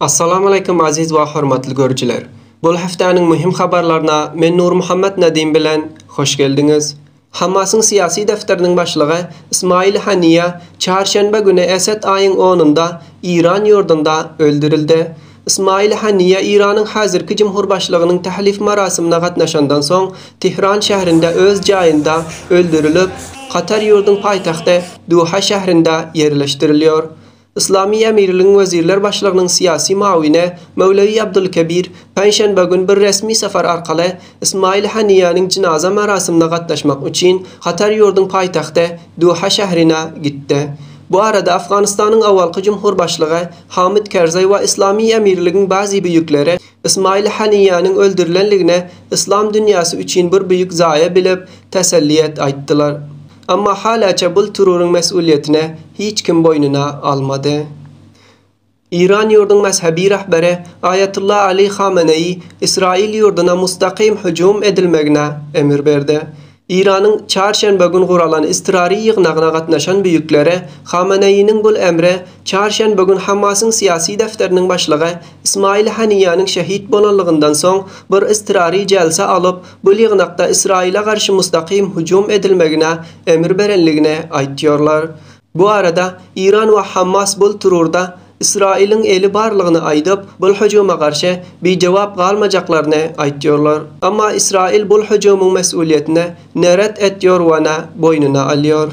Assalamualeýkum aziz we hormatly görüjiler! Bul hepdäniň möhüm habarlaryna men Nurmuhammet Nedim bilen hoş geldiňiz! Hamasyň syýasy defteriniň başlygy Ismail Haniýa çarşenbe güni Esed aýyň onunda Iran ýurdunda öldürildi. Ismail Haniýa Iranyň häzirki jumhurbaşlygynyň tählif marasymyna gatnaşandan soň Tehran şährinde öz jaýynda öldürilip, Katar ýurduň paýtagty Duha şährinde ýerleşdirilýor. Yslamy Emirligiň Wezirler Başlygynyň syýasy mawini Möwlewi Abdulkebir penşenbe gün bir resmi sapar arkaly Ismail Haniýäniň jynaza merasimine gatnaşmak üçin Katar ýurduň paýtagty Duha şährine gitdi. Bu arada Afganystanyň awalky jumhur başlygy Hamid Kerzaý we Yslamy Emirligiň bazi büýükleri Ismail Haniýäniň öldürilenligini yslam dünýäsi üçin bir büýük zaýa bilip, täsellýet aýtdylar. Emma halaça bul terroryň mes'ulyýetine hiç kim boýnuna almady. Iran ýurduň mezhebi rahberi Aýatullah Ali Hameneýi Israil ýurduna mustakym hüjüm edilmegine emir berdi. Iranyň çarşenbe gün guralan iztirary ýygnagyna gatnaşan büýükleri Hameneýiniň bul emri çarşenbe gün Hamasyň syýasy defteriniň başlygy Ismail Haniýanyň şehit bolanlygyndan soň bir iztirary jelsa alyp Bu ýygnakda Ysraýyla garşy mustakym hüjüm edilmegine emir berenligini aýtýarlar. Bu arada Iran we Hammas bul trurda Ysraýylyň eli barlygyny aýdyp, bul hüjüme garşy bijogap galmajaklaryny aýtýarlar. Emma Ysraýyl bul hüjümiň mesulyýetini ne ret etýor we ne boýnuna alýar.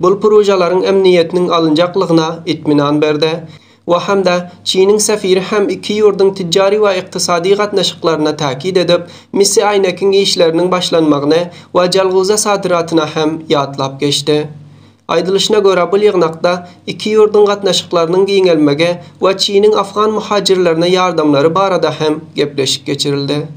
bu projalaryň emniýetiniň alynjaklygyna itminan berdi we hem-de Çiniň sefiri hem iki ýurduň tijjari we ykdysady gatnaşyklaryny täkit edip, Misi Aýnekiň işleriniň başlanmagyny we Jalgowza sadyratyny hem ýatlap geçdi. Aýdylyşyna görä, bu ýygnakda iki ýurduň gatnaşyklarynyň giňelmegi we Çiniň afgan muhajirlerine ýardamlary barada hem gepleşik geçirildi.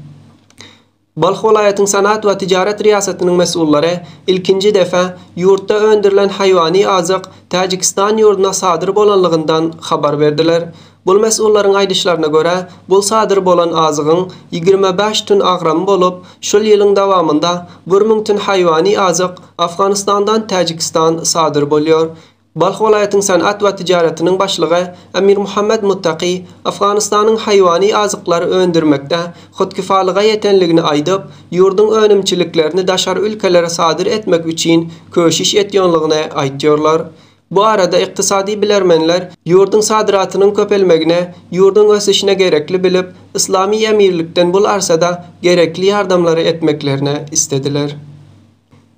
Balh welaýatyň Senat we tijaret riýasatynyň mesullary ilkinji depe ýurtda öndürilen haýwany azyk Täjigistan ýurduna sadyr bolanlygyndan habar berdiler. Bul mesullaryň aýdyşlaryna görä, bul sadyr bolan azygyň ýigrimi bäş tün agramy bolup, şul ýylyň dawamynda bir müň tün haýwany azyk Afganistandan Täjigistan sadyr bolýar. Balh welaýatyň Senat we tijaretiniň başlygy Emirmuhammet Muttaki Afganystanyň haýwany azyklar öndürmekde hudkifalyga ýetenligini aýdyp, ýurduň önümçiliklerini daşary ülkelere sadyr etmek üçin köşüş etýonlygyny aýtýorlar. Bu arada ykdysady bilermenler ýurduň sadyratynyň köpelmegine, ýurduň ösüşine gerekli bilip, Yslamy Emirlikden bul arsada gerekli ýardamlary etmeklerini islediler.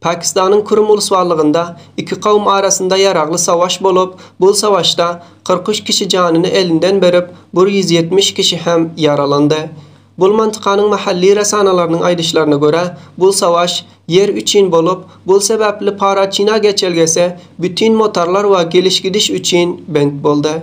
Pakistanyň Kürüm ulusbarlygynda iki kowum arasynda ýaragly sawaş bolup, bul sawaşda kyrk üç kişi janyny elinden berip, bir ýüz ýetmiş kişi hem ýaralandy. Bul mantykanyň mahalli resanalarynyň aýdyşlaryna görä, bul sawaş ýer üçin bolup, bul sebäpli Paraçina geçelgesi bütin motarlar we geliş-gidiş üçin bent boldy.